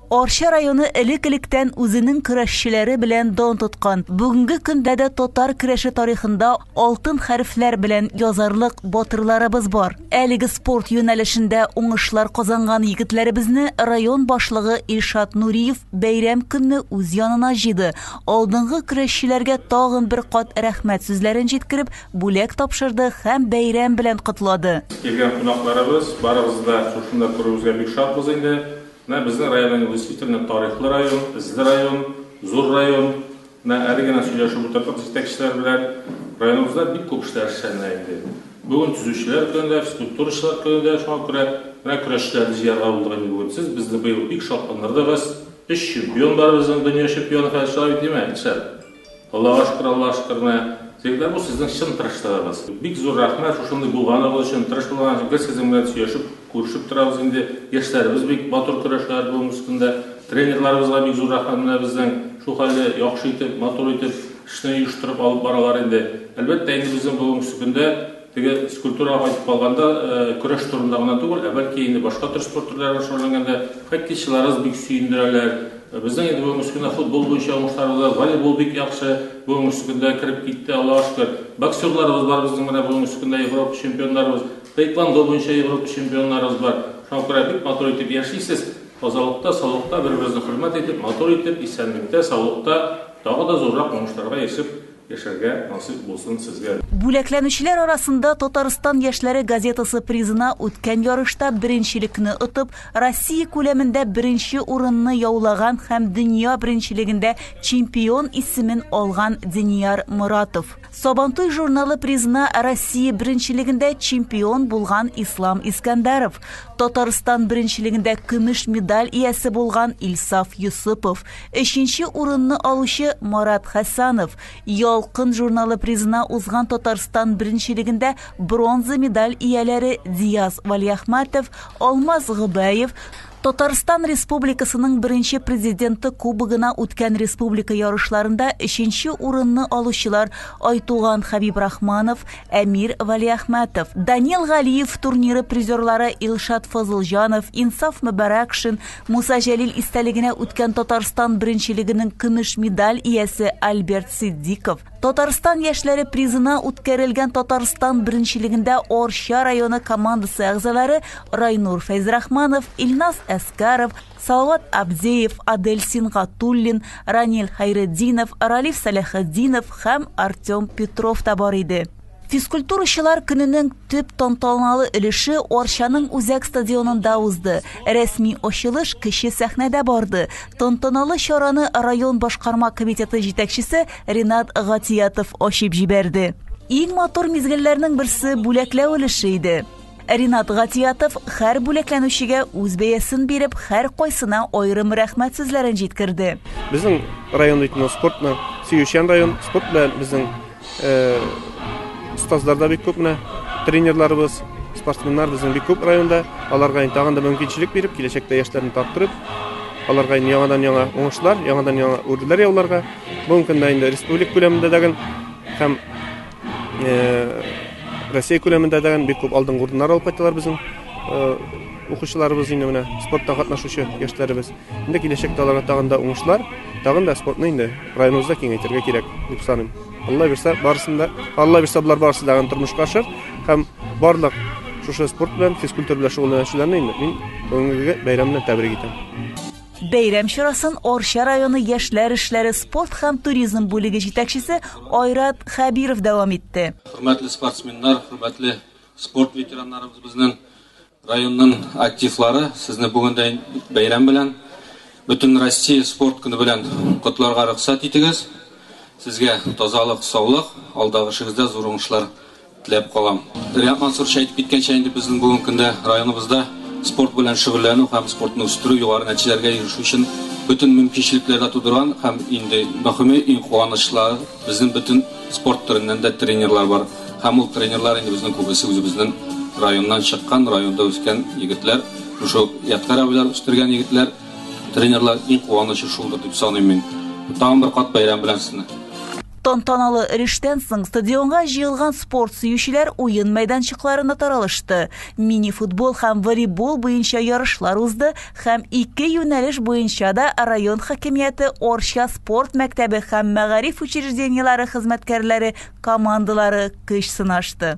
Арча районы элек-электән үзенең көрәшчеләре белән дан тоткан. Бүгенге көндә дә татар көрәше тарихында алтын хәрефләр белән язарлык батырларыбыз бар. Әлеге спорт юнәлешендә уңышлар казанган егетләребезне район башлыгы Илшат Нуриев бәйрәм көнне үз янына җыйды, алдынгы көрәшчеләргә тагын бер кат рәхмәт сүзләрен җиткереп, Бүләк тапшырды һәм бәйрәм белән котлады. Килгән кунакларыбыз, барыбыз да шушында күрүебезгә бик шатбыз инде. Менә безнең районның действительно тарихлы район, эзле район, зур район. Менә әле генә сөйләшеп утырдык җитәкчеләр белән. Районыбызда бик күп эшләр эшләнә инде. Бүген төзүчеләр көне дә, физкультурачылар көне дә, шуңа күрә менә көрәшчеләрне җыярга булдык инде бүген. Сез безне быел бик шатландырдыгыз. Өч чемпион бар безнең, дөнья чемпионы хәзер чыга бит, димә, Илшат? Олылаштыра-олы лаштырмы? Егетләр, бу сезнең чын тырышлыгыгыз. Бик зур рәхмәт шушындый булганыгыз өчен. Тырыш булганыгыз өчен. Без сезнең белән сөйләшеп, күрешеп торабыз инде. Яшьләребез бик матур көрәшәләр бүгенге көндә. Тренерларыбызга бик зур рәхмәт менә безнең. Шул хәлле яхшы итеп, матур итеп эшне оештырып алып баралар инде. Әлбәттә инде безнең бүгенге көндә Теге скульптурага кайтып калганда, көрәш турында гына түгел, ә бәлки инде башка төр спорт төрләренә шөгыльләнгәндә хоккейчыларыбыз бик сөендерәләр. Безнең инде бүгенге көндә футбол буенча уңышларыбыз бар, волейбол бик яхшы бүгенге көндә кереп китте, Аллага шөкер. Боксерларыбыз бар безнең менә бүгенге көндә Европа чемпионнарыбыз, тейквондо буенча Европа чемпионнарыбыз бар. Шуңа күрә бик матур итеп яшисез, тазалыкта, саулыкта бер-берегезне хөрмәт итеп, матур итеп, исәнлектә, саулыкта, тагы да зуррак уңышларга ирешеп, Яшәргә насыйп булсын сезгә дә. Бүләкләнүчеләр арасында Татарстан яшьләре газетасы призына үткән ярышта беренчелекне отып, Россия күләмендә беренче урынны яулаган һәм дөнья беренчелегендә чемпион исемен алган Денияр Моратов, Сабантуй журналы призына Россия беренчелегендә чемпион булган Ислам Искәндәров, Татарстан беренчелегендә көмеш медаль иясе булган Илсаф Йосыпов, Өченче урынны алучы Марат Хәсанов Ялкын журналы призына узган Татарстан беренчелегендә бронза медаль ияләре Диас Валиахматов, Алмаз Гобәев, Татарстан Республикасының беренче президенты кубогына үткән республика ярышларында өченче урынны алучылар Айтуган Хәбиб Рахманов, Әмир Валиахмәтов, Данил Галиев турниры призерлары Илшат Фазылҗанов, Инсаф Мөбарәкшин, Муса Җәлил истәлегенә үткән Татарстан беренчелегенең көмеш медаль иясе Альберт Сиддиков, Татарстан яшьләре призына үткәрелгән Татарстан беренчелегендә Орча районы командасы әгъзалары Райнур Фәйзрахманов, Илназ Әскаров, Салават Абдеев, Адель Сингатуллин, Ранил Хайретдинов, Ралиф Сәләхетдинов һәм Артем Петров та бар иде. Физкультурачылар көненең төп тантаналы өлеше Арчаның үзәк стадионында узды. Рәсми ачылыш кече сәхнәдә барды. Тантаналы чараны район башкарма комитеты җитәкчесе Ренат Гатиятов ачып җибәрде. Иң матур мизгелләрнең берсе бүләкләү өлеше иде. Ринат Гатиятов хәр бүләкләнүчегә үз бәясен биреп, хәр кайсына айрым рәхмәт сүзләрен җиткерде. Безнең район бит спортны сөючән район, спорт белән безнең э, остазлар да бик күп менә, тренерларыбыз, спортсменнар безнең бик күп районда. Аларга инде тагын да мөмкинчелек биреп, киләчәктә яшьләрне тарттырып, аларга инде яңадан яңа уңышлар, яңадан яңа үрләр яуларга. Бүгенге көндә инде республик күләмендә дәген һәм Россия күләмендә дә бик күп алдынгы урыннар алып кайталар безнең укучыларыбыз инде менә спортта катнашучы яшьләребез. Инде киләчәктә аларга тагын да уңышлар, тагын да спортны инде районыбызда киңәйтергә кирәк дип саныйм. Алла бирсә, барысында, Алла бирсә, болар барысы да тормышка ашыр һәм барлык шушы спорт белән, физкультура белән шөгыльләнүчеләрне инде мин бүгенге бәйрәм белән тәбрик итәм. Бәйрәм чарасын Арча районы яшьләр эшләре, спорт һәм туризм бүлеге җитәкчесе Айрат Хәбиров дәвам итте. Хөрмәтле спортсменнар, хөрмәтле спорт ветераннарыбыз, безнең районның активлары, сезне бүгендән бәйрәм белән, Бөтенроссия спорт көне белән котларга рөхсәт итегез. Сезгә тазалык, саулык, алдагы эшегездә зур уңышлар теләп калам. Риат Мансурович әйтеп киткәнчә, инде безнең бүгенге көндә районыбызда спорт белән шөгыльләнү һәм спортны үстерү, югары нәтиҗәләргә ирешү өчен бөтен мөмкинчелекләр дә тудырган һәм инде мөхиме, иң куанычлары, безнең бөтен спорт төреннән дә тренерлар бар һәм ул тренерлар инде безнең күбесе үзебезнең районнан чыккан, районда үскән егетләр, шушы ук Ядкарь абыйлар үстергән егетләр, тренерлар, иң куанычы шулдыр дип саныйм мин. Тагын бер кат бәйрәм белән сезне! Тантаналы эрештән соң стадионга җыелган спорт сөючеләр уен мәйданчыкларына таралышты. Мини-футбол һәм волейбол буенча ярышлар узды һәм ике юнәлеш буенча да район хакимияте Орча спорт мәктәбе һәм мәгариф учреждениеләре хезмәткәрләре командалары көч сынашты.